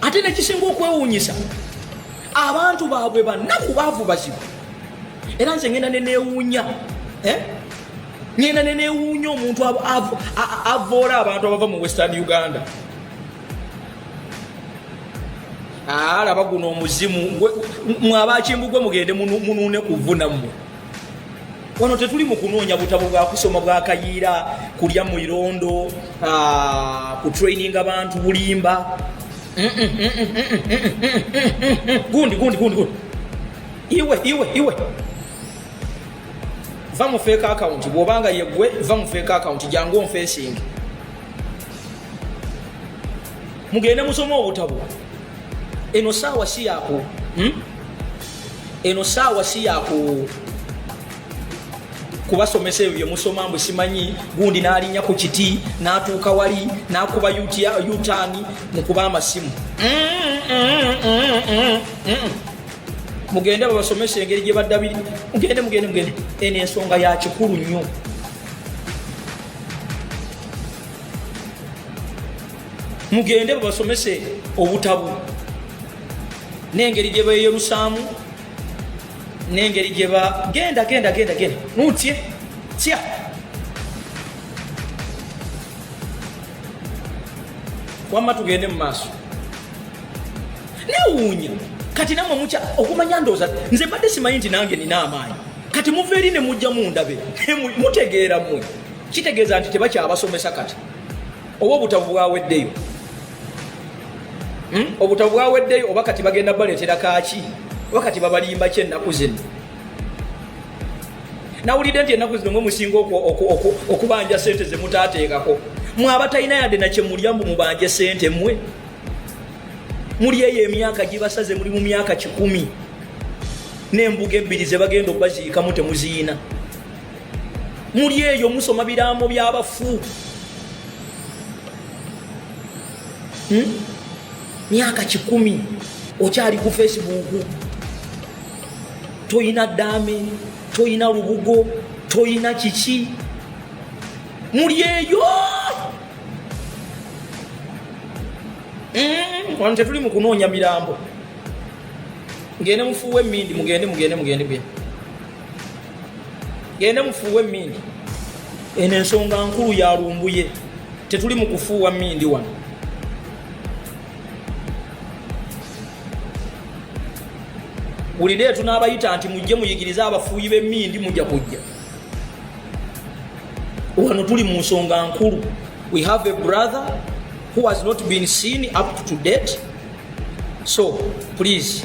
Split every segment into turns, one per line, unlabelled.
ate nekisinga okwewuunyisa abantu baabwe bannaku baavu bazibu era nze ngenda nenewuunya eh? ngenda nenewuunya omuntu avoola abantu abava mu western uganda alaba ah, guno omuzimu mwabakimbugwe mugende munuune kuvuna mmwe wano tetuli mu kunoonya butabo bwa kusoma bwa kayiira kulya mu irondo ah, ku traininga bantu bulimba gundi gundi gundi gundi iwe iwe iwe va mu fake account bwobanga yegwe va mu fake account jangu onfesingi mugende musoma obutabo eno saawa si yako hmm? eno saawa si yaku kubasomesa ebyo byemusoma mbu simanyi gundi n'alinya ku kiti n'atuuka wali n'akuba yutaani mukuba amasimu mugende babasomesa engeri gye baddabiri mugende mugende mugende eno ensonga ya kikulu nnyo mugende babasomese obutabu n'engeri gye beeyolusaamu n'engeri gye ba genda genda genda genda nutye tya wamma tugende mu maaso newuunya kati namwe mukya okumanya ndooza nze mbadde simanyi nti nange nina amaanyi kati muva eri ne mujja mundabe mutegeera mwe kitegeeza nti tebakyabasomesa kati oba obutabo bwaweddeyo hmm? obutabo bwaweddeyo oba kati bagenda baleetera kaaki oba kati babalimba ki ennaku zino nawulidde nti ennaku zino mwe musinga okubanja sente zemutaateekako mwe abatalina yadde nakyemulya mbu mubanje sente mwe muli eyo emyaka gibasaze muli mu myaka kikumi n'embuga ebbiri ze bagenda okubaziikamu temuziyina muli eyo musoma biraamo byabafu hmm? myaka kikumi okyali ku facebook toyina dame toyina lubugo toyina kiki muli eyo hmm? wano tetuli mu kunoonya mirambo ngende mufuuwa emindi mugende mugende mugende bye genda mufuuwe emmindi eno ensonga nkulu ya lumbuye tetuli mu kufuuwa mmindi wano buli leero tunaabayita nti mujje muyigirize abafuuyi b'emmindi mujja kujja wano tuli mu nsonga nkulu we have a brother who has not been seen up to date so please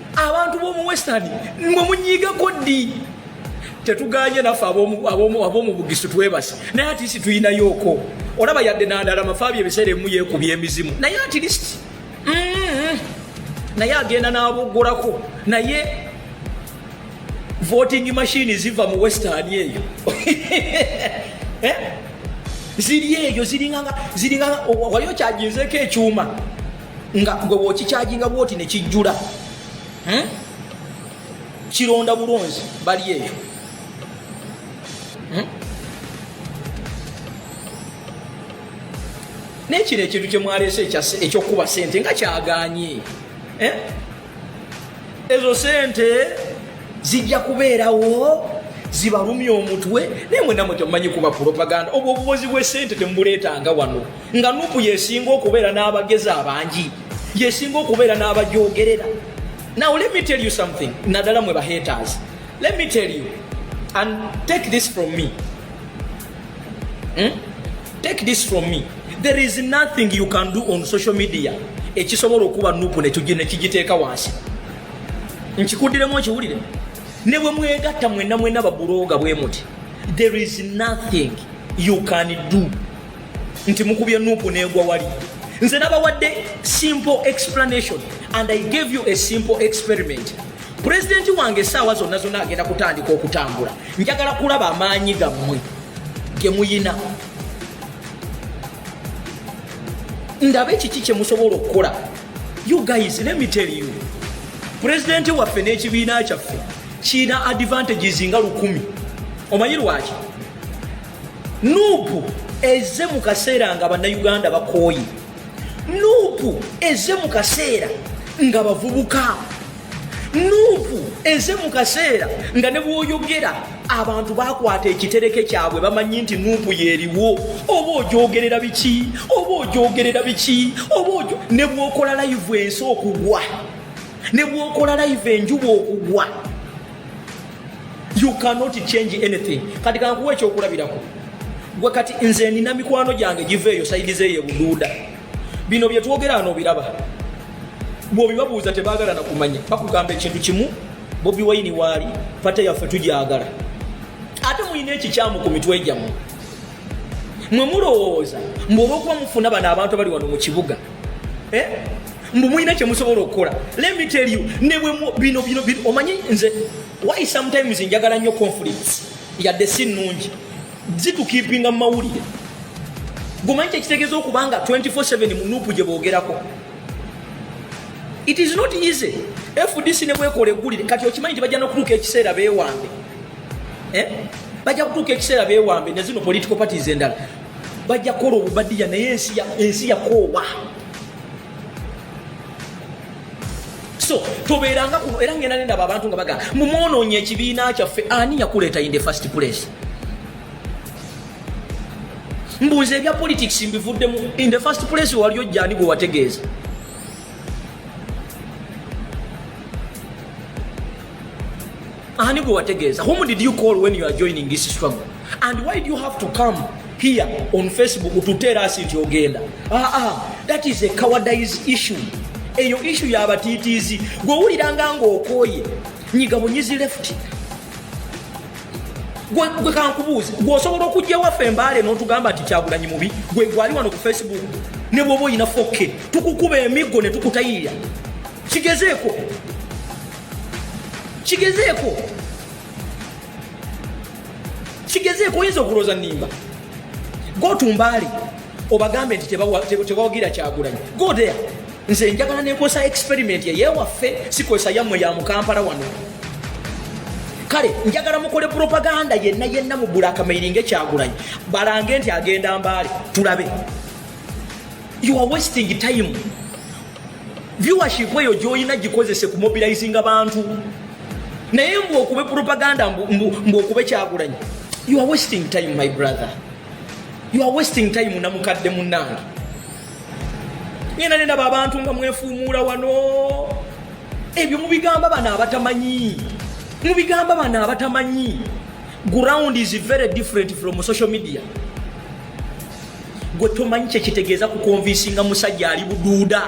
abantu b'omu western mwe munyigako ddi tetuganye naffe ab'omu bugisu twebase naye atisi tuyinayooko olaba yadde nandala mafaabi ebiseera emu yekubya emizimu naye atilist mm-hmm. naye agenda n'abogolako naye voting machine ziva mu western eyo eh? ziri eyo ziringanga wali okyajinzeeko ekyuma nga gwe wokikyajinga bwoti nekijjula hmm? kironda bulonzi bali eyo hmm? nekino ekintu kyemwaleese ekyokukuba sente nga kyaganye eh? ezo sente zijja kubeerawo zibalumya omutwe naye mwena mwe temumanyi kuba propaganda obwo obubozi bwesente temubuleetanga wano nga nupu yesinga okubeera n'abagezi abangi yesinga okubeera n'abajogerera now let me tell you something naddala mwe bahaters let me tell you and take this from me hmm? Take this from me. There is nothing you can do on social media ekisobola okuba nupu nekigiteeka wansi. Nkikuddilemu okiwulire. Ne bwe mwegatta mwenna mwenna babuloga bwe muti. There is nothing you can do nti mukubye nupu negwa wali. Nze nabawadde simple explanation and I gave you a simple experiment. pulezidenti wange essaawa zonna zonna agenda kutandika okutambula njagala kulaba amaanyi gammwe ge muyina ndabe kiki kye musobola okukola you guys let me tell you pulezidenti waffe n'ekibiina kyaffe kirina advantages nga lukumi omanyi lwaki nuupu eze mu kaseera nga bannayuganda bakooye nuupu eze mu kaseera nga bavubuka nuupu eze mu kaseera nga ne bwoyogera abantu bakwata ekitereke kyabwe bamanyi nti nuupu yeriwo oba ogyogerera biki oba ogyogerera biki oba ne bwokola layivu ensi okugwa ne bwokola layivu enjuba okugwa you cannot change anything kati kankuwa ekyokulabirako gwe kati nze nina mikwano gyange giva eyo saidi zeeyo ebuduuda bino byetwogera ano obiraba bwobibabuuza tebagala nakumanya bakugamba ekintu kimu bobi waini waali pate yaffe tugyagala ate mulina ekikyamu ku mitwe gyamu mwe mulowooza mbu olwokuba mufuna bano abantu abali wano mu kibuga eh? mbu mulina kyemusobola okukola let me tell you ne bwe bino bino bino omanyi nze why sometimes njagala nnyo conflicts yadde si nnungi zitukipinga mu mawulire gumanyi kyekitegeeza okuba nga 24/7 mu nuupu gye boogerako it is not easy fdc ne bwekola eggulire kati okimanyi nti bajja nokutuuka ekiseera beewambe eh? bajja kutuuka ekiseera beewambe ne zino political parties endala bajja kukola obubadiya naye ensi yakoowa so tobeeranga kuno era ngenda nendaba abantu nga bagamba mumwonoonye ekibiina kyaffe ani yakuleeta in the first place mbuuza ebya politics mbivuddemu in the first place wali ojjani gwe wategeeza ani gwe wategeeza whom did you call when you are joining this struggle And why do you have to come here on Facebook to tell us nti ogenda? Ah ah, that is a cowardice issue. Eyo issue ya batitizi. Gwe wulira nga ng'okooye. Nyiga bunyizi left. Gwe gwe kankubuuze. Gwe osobola okujja waffe embaale n'otugamba nti kyagulanyi mubi. Gwe gwali wano ku Facebook. Ne bwoba olina 4K. Tukukuba emiggo ne tukutayirira. Kigezeeko. Kigezeeko. kigezeeko oyinza okulooza nimba gotumbaali obagambe nti tebawagira kyagulanyi godea nze njagala nekozesa experiment yeyewaffe sikozesa yammwe ya mukampala wano kale njagala mukole propaganda yenna yenna mugula akamairinga ekyagulanyi balange nti agenda mbaale tulabe you are wasting time viewership eyo gyolina gikozese ku mobilizinga bantu naye mbu okube propaganda mbu okube kyagulanyi you are wasting time my brother you are wasting time namukadde munange ngenda nendaba abantu nga mwefuumuula wano ebyo mubigamba bano abatamanyi mubigamba bano abatamanyi ground is very different from social media gwe tomanyi kyekitegeeza kukonvinsinga musajja ali buduuda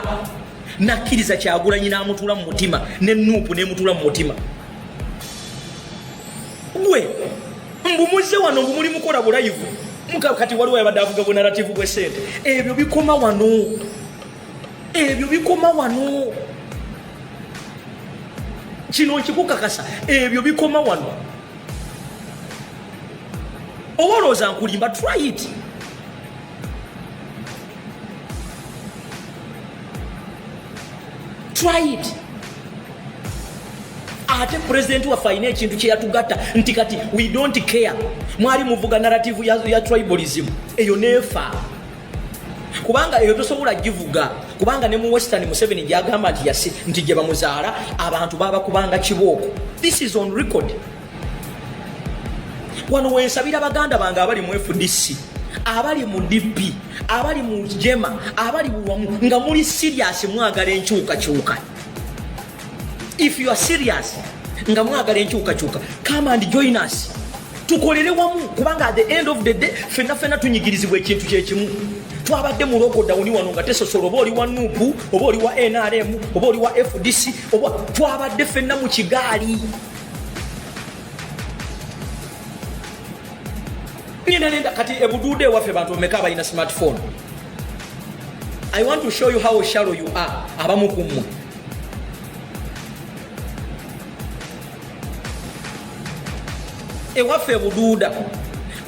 nakkiriza kyagulanyi n'amutuula mu mutima ne nuupu nemutuula mu mutima gwe mbumuze wano mbu muli mukola bulayivu kati waliwo yabadde avuga bunarativu bwesente ebyo bikoma wano ebyo bikoma wano kino nkikukakasa ebyo bikoma wano oba olowooza nkulimba try it try it ate pulezidenti waffe alina ekintu kyeyatugatta nti kati we don't care mwali muvuga narrative ya, ya tribalism eyo nefa kubanga eyo tosobola givuga kubanga ne mu western museveni gyagamba nti yasi nti gye bamuzaala abantu baba kubanga kibooko this is on record wano wensabira baganda bange abali mu fdc abali mu dp abali mu jema abali buwamu nga muli siriasi mwagala enkyukakyuka If you are serious nga mwagala enkyukakyuka come and join us tukolere wamu kubanga at the end of the day fenna fenna tunyigirizibwa ekintu kyekimu twabadde mu lokodawuni wano nga tesosola oba oli wa nupu oba oli wa nrm oba oli wa fdc oba twabadde fenna mu kigaali ngenda nenda kati ebuduude ewaffe bantu omeka abalina smartphone i want to show you how shallow you are abamu ku mmwe ewaffe ebuduuda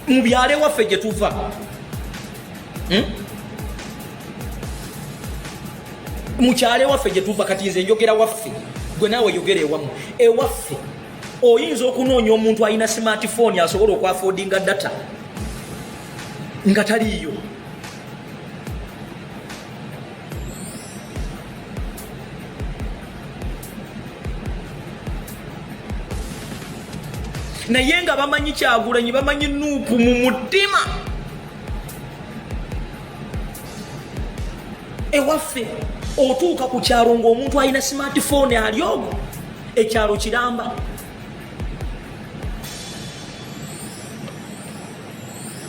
mu byalo ewaffe gye tuva hmm? mukyalo ewaffe gye tuva kati nze njogera waffe gwe naawe yogera ewamu ewaffe oyinza okunoonya omuntu alina smartphone asobola okwafodinga data nga taliiyo naye nga bamanyi kyagulanyi bamanyi nuupu mu mutima ewaffe otuuka ku kyalo ngaomuntu alina smartphone alyogo ekyalo kiramba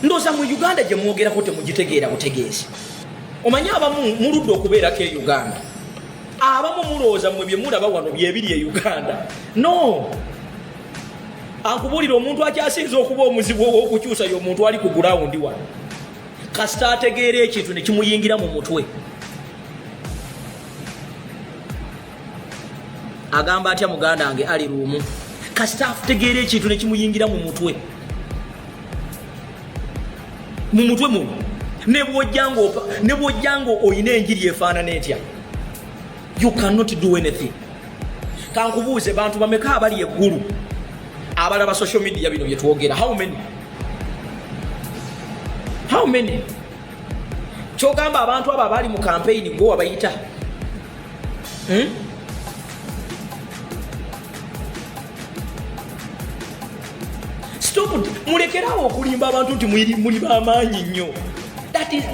ndoza mu uganda gye mwogerako temugitegeera butegeezi omanyi abamu muludde okubeerako e uganda abamu mulowooza mwe bye mulaba wano byebiri e uganda no ankubuulira omuntu akyasinza okuba omuzibu ow'okukyusa yo omuntu ali ku gulawundi wano kasita ategeera ekintu ne kimuyingira mu mutwe agamba atya muganda wange ali luumu kasita afutegeera ekintu nekimuyingira mu mutwe mu mutwe muno nebwojjanga olina enjiri efaanana etya you cannot do anything kankubuuze bantu bameka abali eggulu abalaba social media bino byetwogera how many how many kyogamba abantu abo abaali mu kampeyini gwe wabayita Hmm? mulekerawo okulimba abantu nti muli bamaanyi nnyo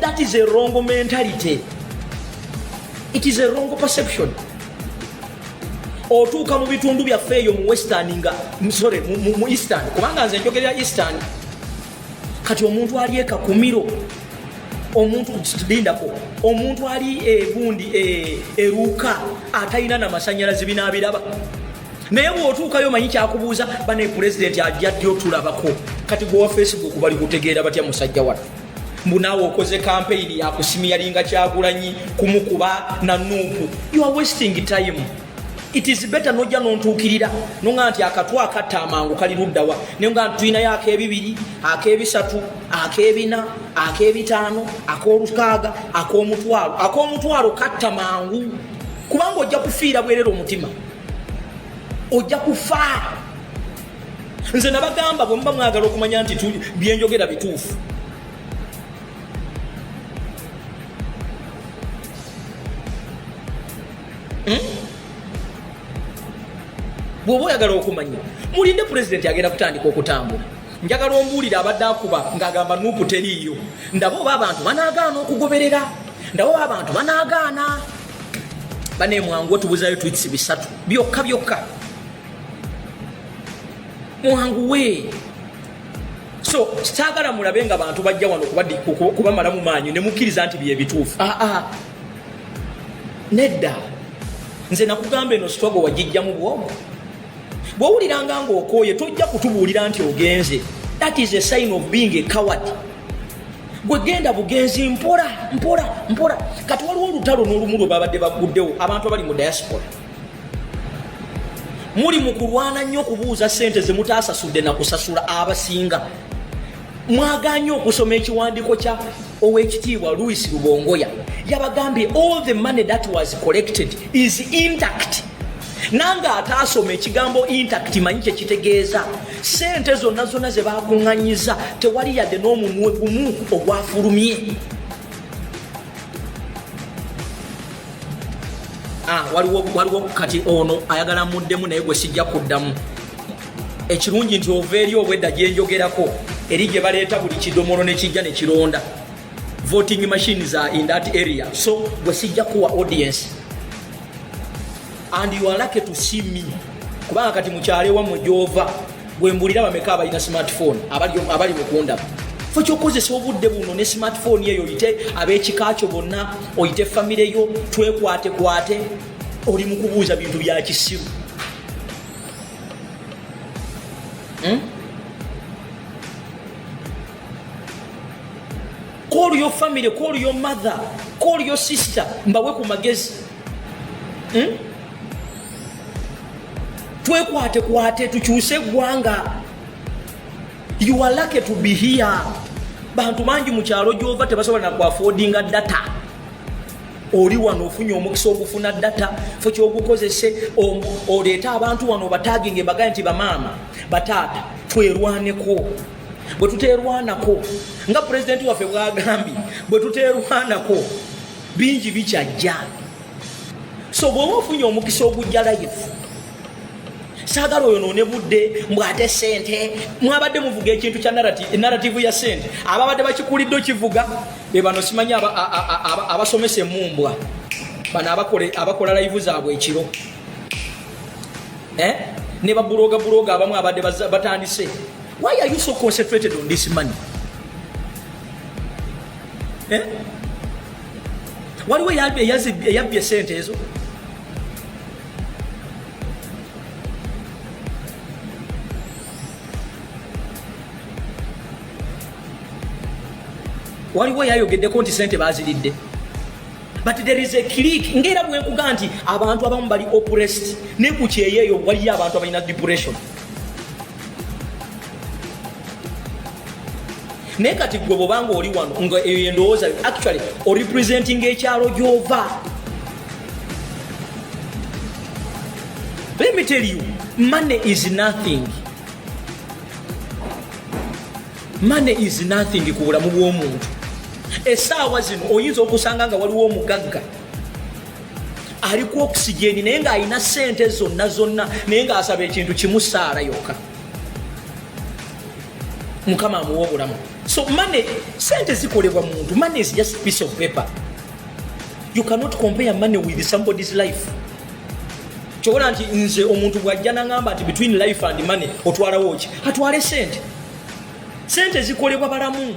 that is a wrong mentality it is a wrong perception otuuka mu bitundu byaffe eyo mu western nga sorry mu eastern kubanga nze njogerera eastern kati omuntu ali ekakumiro omuntu lindako omuntu ali egundi e, eruuka atalina na masanyalaze binaabiraba naye bwotuukayo manyi kyakubuuza bane pulezidenti ajja ddi otulabako kati gwewa facebook bali kutegeera batya musajja watu mbu naawe okoze kampeyini yakusimi yalinga kyagulanyi kumukuba na nuupu you are wasting time it is better nojja nontuukirira nonga nti akatwa akatta amangu kali luddawa nenga nti tulinayo akebibiri akebisatu akebina akebitaano akolukaaga akomutwalo akomutwalo katta mangu kubanga ojja kufiira bwerera omutima ojja kufa nze nabagamba bwemuba mwagala okumanya nti byenjogera bituufu hmm? bwoba oyagala okumanya mulinde pulezidenti agenda kutandika okutambula njagala ombuulire abadde akuba ng'agamba nuupu teriiyo ndaba oba abantu banaagaana okugoberera ndaba oba abantu banaagaana bane mwangu otubuzayo twits bisatu byokka byokka mwangu we so kitagala mulabe nga bantu bajja wano kubamalamu maanyi nemukkiriza nti byebituufu aa ah, ah. nedda nze nakugamba eno sitwago wagijjamu bwomu bwowuliranga ngaokooye tojja kutubuulira nti ogenze that is a sign of being a coward gwe genda bugenzi mpola mpola mpola kati waliwo olutalo n'olumu lwe babadde baguddewo abantu abali mu diaspora muli mu kulwana nnyo okubuuza sente ze mutaasasudde na kusasula abasinga mwaganye okusoma ekiwandiiko kya owekitiibwa louis lubongoya yabagambye all the money that was collected is intact nange ataasoma ekigambo intact manyi kyekitegeeza sente zonna zonna ze bakuŋŋanyiza tewali yadde n'omunwe gumu ogwafulumye ah, waliwo kati ono ayagala muddemu naye gwe sijja kuddamu ekirungi nti ova eri obwedda gyenjogerako eri gye baleeta buli kidomolo ne kijja ne kironda voting machine za in that area so gwe sijja kuwa audience and you are lucky to see me kubanga kati mukyale wamwe gyova gwe mbulira bameka abalina smartphone abali mukundaba fe kyokozesa obudde buno ne smartphone eyo oyite ab'ekika kyo bonna oyite famire yo twekwatekwate oli mu kubuuza bintu bya kisiru Hmm? Call your family, call your mother, call your sister, mbawe ku magezi. Hmm? Twekwate kwate tukyuse gwanga. You are lucky to be here. Bantu manji mu kyalo gyova tebasobola na ku affording data. oli wano ofunye omukisa ogufuna data fo kyogukozese oleete abantu wano obataginga embagaye nti bamaama bataata twerwaneko bwe tuterwanako nga pulezidenti waffe bwagambye bwe tuterwanako bingi bikyajja so bwoba ofunye omukisa ogujja life saagala oyo noone budde mbu ate sente mwabadde muvuga ekintu kya narativu ya sente ababadde bakikulidde okivuga bebano simanyi abasomesa emumbwa bano abakola layivu zaabwe ekiro eh? ne babuloga buloga abamu abadde batandise why are you so concentrated on this money eh? waliwo eyabbye sente ezo waliwo yayogeddeko nti sente baziridde but there is a click ngaera bwekuga nti abantu abamu bali oppressed ne ku kyeyo eyo waliyo abantu abalina depression naye kati gwe bwobanga oli wano nga eyo endowooza actually orepresenting ekyalo gyova Let me tell you, money is nothing. Money is nothing ku bulamu bw'omuntu. Essaawa zino oyinza okusanga nga waliwo omugagga ali ku okisigeni naye ng'alina ssente zonna zonna naye ng'asaba ekintu kimu saala yokka. Mukama amuwa obulamu. So money, sente zikolebwa muntu. Money is just a piece of paper. you cannot compare money with somebody's life kyobola nti nze omuntu bwajja nangamba nti between life and money otwalawo ki atwale sente sente zikolebwa balamu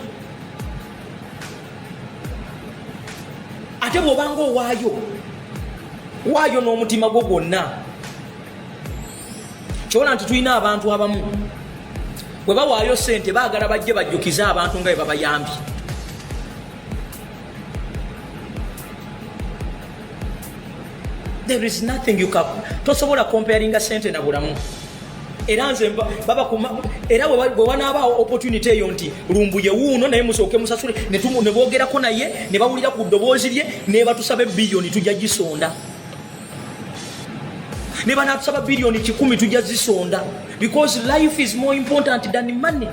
ate bwobanga owaayo waayo n'omutima gwo gwonna kyobola nti tulina abantu abamu bwe bawaayo sente baagala bajje bajjukize abantu nga bwe babayambye there is nothing you can tosobola comparinga sente na bulamu era nze baba kuma era bwe wanaabaawo opportunity eyo nti lumbuye wuuno naye musooke musasule ne boogerako naye ne bawulira ku ddoboozi lye ne batusaba ebbiliyoni tujja gisonda ne banaatusaba biliyoni kikumi tujja zisonda because life is more important than money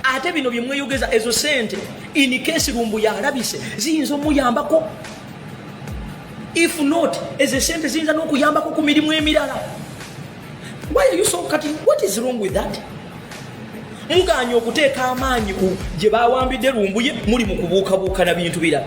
ate bino bye mweyogeza ezo sente in case lumbu yalabise ziyinza omuyambako if not ezo esente ziyinza n'okuyambako ku mirimu emirala why are you so cutting what is wrong with that muganye okuteeka amaanyi gye bawambidde lumbuye muli mu kubuukabuuka na bintu birala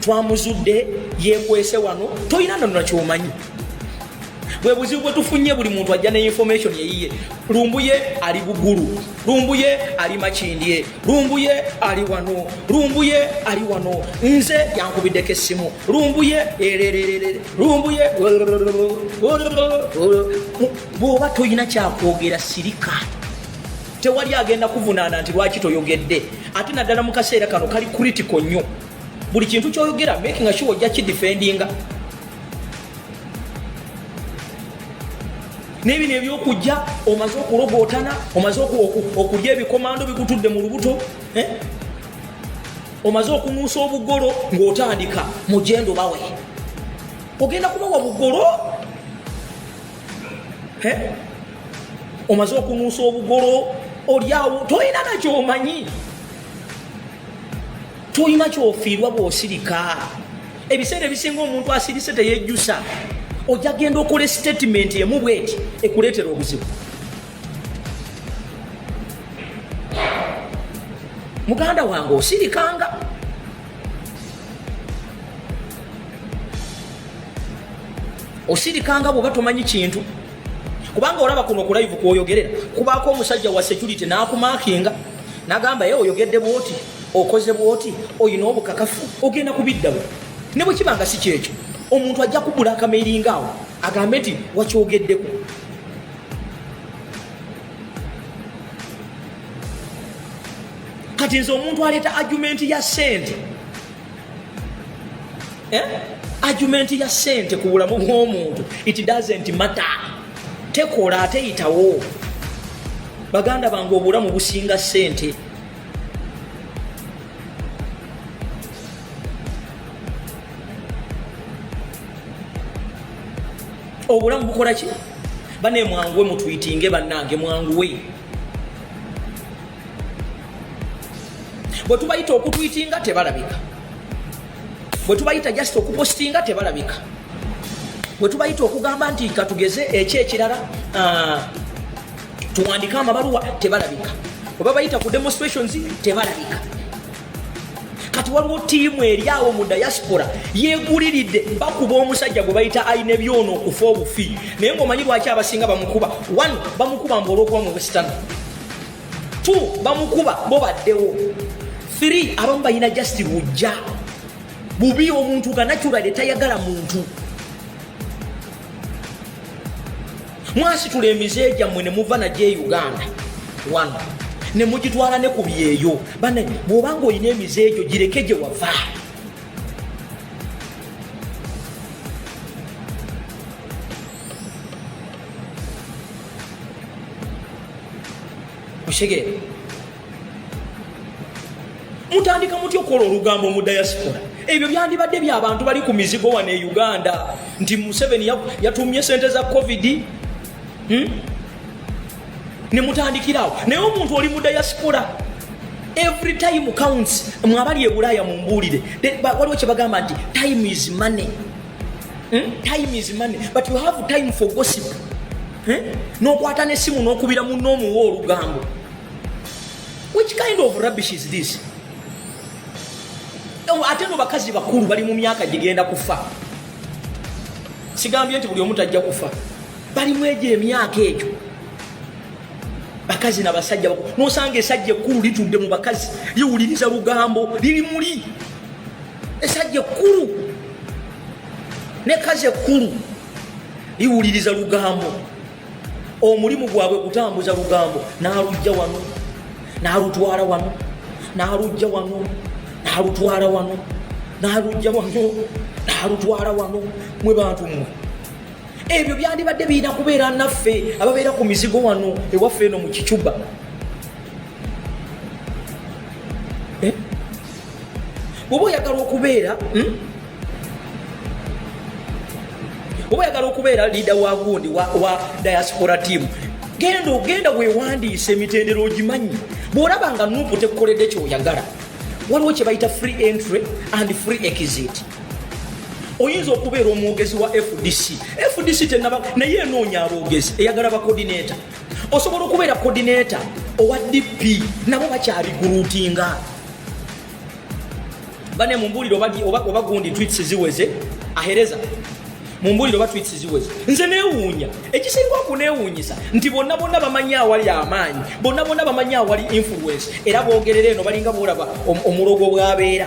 twamuzudde yekwese wano tolina nonona kyomanyi bwe buzibu bwe tufunye buli muntu ajja ne information eyiye lumbuye ali bugulu lumbuye ali makindye lumbuye ali wano lumbuye ali wano nze yankubiddeko essimu lumbuye erererere lumbuye bw'oba tolina kyakwogera sirika tewali agenda kuvunaana nti lwaki toyogedde ate naddala mu kaseera kano kali critical nnyo buli kintu kyoyogera making sure ojja kidefendinga nebino ebyokujja omaze okulogootana omaze okulya ebikomando bikutudde mu lubuto eh? omaze okunuusa obugolo ng'otandika mugendo bawe ogenda kubawa bugolo eh? omaze okunuusa obugolo olyawo tolina nakyomanyi tolina kyofiirwa bwosirika ebiseera ebisinga omuntu asirise teyejjusa ojja genda okola statement emu bweti ekuleetera obuzibu muganda wange osirikanga osirikanga bwoba tomanyi kintu kubanga olaba kuno ku live kwoyogerera kubaako omusajja wa security n'akumakinga n'agamba ye oyogedde bwoti okoze bwoti olina obukakafu ogenda kubiddawo ne bwe kiba nga si kyekyo omuntu ajja kubula akameiringa awo agambe nti wakyogeddeko kati nze omuntu aleeta argumenti ya sente eh? argument ya sente ku bulamu bw'omuntu it doesn't matter tekola ate yitawo baganda bange obulamu businga sente obulamu bukola ki bane mwanguwe mutwitinge bannange mwanguwe bwe tubayita okutwitinga tebalabika bwe tubayita just okupostinga tebalabika bwe tubayita okugamba nti katugeze ekyo ekirala ah, tuwandike amabaluwa tebalabika oba bayita ku demonstrations tebalabika kati waliwo tiimu eri awo mu diaspora yeguliridde bakuba omusajja gwe bayita alina ebyona okufa obufi naye ngaomanyi lwaki abasinga bamukuba one bamukuba mbu olwokuba mu western 2 bamukuba bo baddewo 3 abamu balina just lujja bubi omuntu kanaturade tayagala muntu mwasitula emize gyammwe ne muva nagyo e uganda wano ne mugitwala ne ku byeyo bane bw'obanga olina emize egyo gireke gye wava okitegeera mutandika mutya okukola olugambo mu diaspora ebyo byandibadde byabantu bali ku mizigo wano e uganda nti museveni yatumye sente za covid hmm? nemutandikirawo naye omuntu oli mu diaspora every time counts mwabali ebulaaya mumbuulire waliwo kyebagamba nti time is money Hmm? Time is money, but you have time for gossip. Hmm? Nokwata ne simu nokubira mu no mu wolu gambo. Which kind of rubbish is this? Ewa oh, ateno bakazi bakuru bali mu myaka jigenda kufa. Sigambye nti buli omuntu ajja kufa. Bali mweje myaka ekyo. Bakazi na basajja bakuru. Nosanga esajja ekuru litudde mu bakazi. Liwuliriza lugambo, lili muli. esajja ekkulu ne kazi ekkulu liwuliriza lugambo omulimu gwabwe kutambuza lugambo n'alujja wano n'alutwala wano n'alujja wano n'alutwala wano n'alujja wano n'alutwala wano mwe bantu mmwe ebyo byandibadde birina kubeera naffe ababeera ku mizigo wano ewaffe eno mu kicuba oba oyagala okubeera hmm? oba oyagala okubeera liida wa gundi wa diaspora tiamu genda ogenda wewandiisa emitendero ogimanyi bwolaba nga nupu tekukoledde kyoyagala waliwo kyebayita free entry and free exit oyinza okubeera omwogezi wa fdc fdc tenaba naye enoonya aboogezi eyagala bakodineta osobola okubeera coordinator owa dp nabo bakyabigulutinga bane mumbulire oba gundi twits ziweze ahereza mumbulire oba twits ziweze nze newuunya ekisinga okunewuunyisa nti bonna bonna bamanyi awali amaanyi bonna bonna bamanyi awali influence era bogerera eno balinga bolaba omulogo bwabeera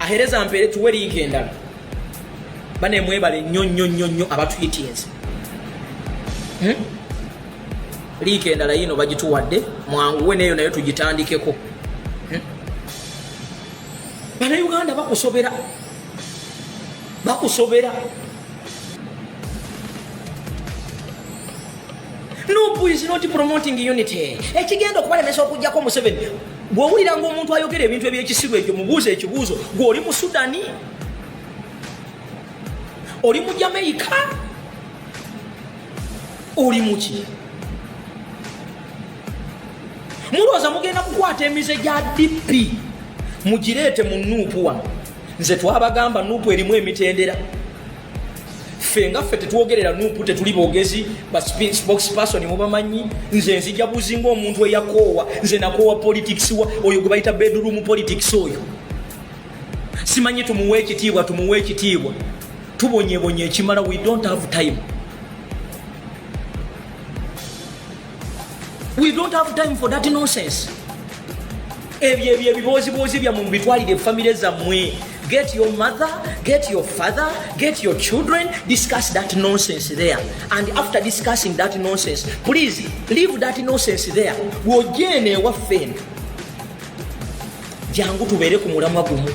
ahereza mpere tuwe linka endala bane mwebale nnyo nnyo nnyo nnyo abatwitinze hmm? liika endala yiino bagituwadde mwanguwe neeyo nayo tugitandikeko hmm? banauganda bakusobera bakusobera nupu is not promoting unity ekigenda okubalemesa okujjako museveni bw'owuliranga omuntu ayogera ebintu ebyekisiru ekyo mubuuza ekibuuzo gwe oli mu sudani oli mu jamaica oli muki mulowooza mugenda kukwata emize gya dp mugireete mu nuupu wano nze twabagamba nuupu erimu emitendera ffe nga ffe tetwogerera nupu tetuli bogezi baspokesperson mubamanyi nze nzija buzi ngaomuntu eyakoowa nze nakoowa politics wa oyo gwe bayita bedroom politics oyo simanyi tumuwa ekitiibwa tumuwa ekitiibwa tubonyebonye ekimala we don't have time We don't have time for that nonsense. Ebyo ebyo ebibooziboozi byammwe mubitwalire famire zammwe. Get your mother, get your father, get your children, discuss that nonsense there. And after discussing that nonsense, please leave that nonsense there. Wojeene ewaffe eno. Jangu tubeere ku mulamwa gumu.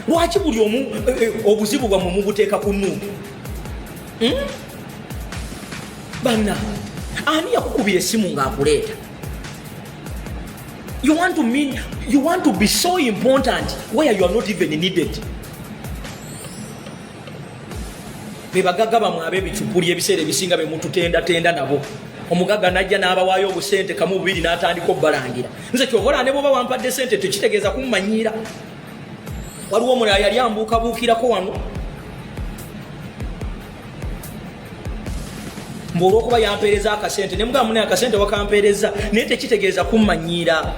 lwaki buli omu eh, eh, obuzibu bwamwe mubuteeka ku nuupu hmm? banna ani yakukubira esimu ng'akuleeta you want to mean you want to be so important where you are not even needed bebagaga bamwe abebicupuli ebiseera ebisinga bemututendatenda nabo omugaga najja n'abawaayo obusente kamu bubiri n'atandika obubalangira nze kyobola ne bwoba wampadde sente tekitegeeza kumumanyiira waliwo omulala yali ambuukabuukirako wano mbu olwokuba yampeereza akasente ne mugamba mune akasente wakampeereza naye tekitegeeza kummanyiira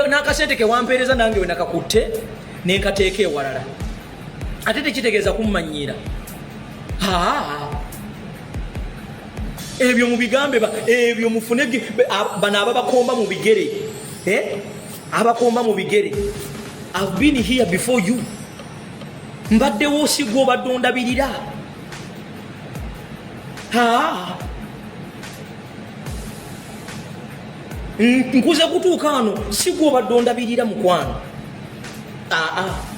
n'akasente kewampeereza nange wenakakutte nenkateeka ewalala ate tekitegeeza kummanyiira ebyo mubigambe ebyo mufune bano ababakomba mu bigere eh? abakomba mu bigere I've been here before you mbaddewo osigwa obadde ondabirira nkuze kutuuka ano sigwa obadde ondabirira mukwano aa ah, ah.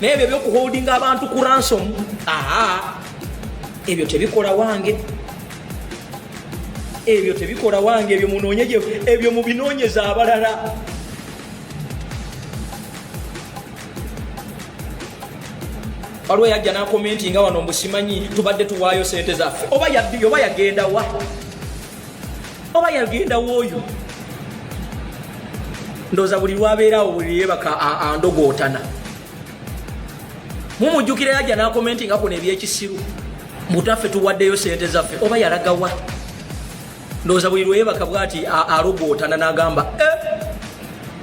naye ebyo ebyokuholdinga abantu ku ransom aa ebyo tebikola wange ebyo tebikola wange ebyo munoonye ebyo mubinoonyeza abalala waliwo yajja nakomenti nga wano mbusimanyi tubadde tuwaayo sente zaffe oba yabbi oba yagendawa oba yagenda woyo ndoza buli lwabeerawo buli yebaka andogootana mumujjukira yajja nakomenti nga kuno ebyekisiru mutaffe tuwaddeyo sente zaffe oba yalagawa ndoza buli lweyebaka bwati alogootana nagamba eh,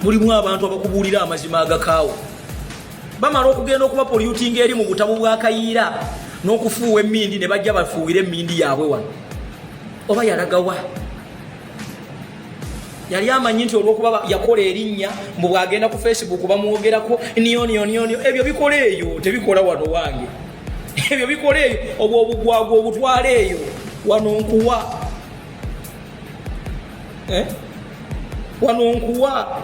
mulimu abantu abakubuulira amazima agakaawo bamala okugenda okuba polyutinga eri mu butabu bwakayiira n'okufuuwa emmindi ne bajja bafuuwire emmindi yaabwe wano oba yalagawa yali amanyi nti olwokuba yakola erinnya mbu bwagenda ku facebook bamwogerako nionionionio ebyo bikola eyo tebikola wano wange ebyo bikola eyo obwo obugwagwa obutwala eyo wano nkuwa eh? wano nkuwa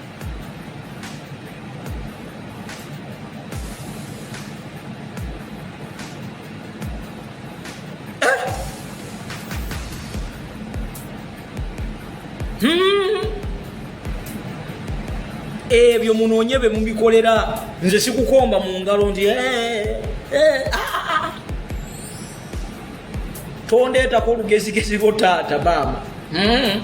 Hmm. ebyo munoonye be mubikolera nze sikukomba mu ngalo nti eh, eh, ah, ah, ah. tondeetako olugezigezi lwo taata maama hmm.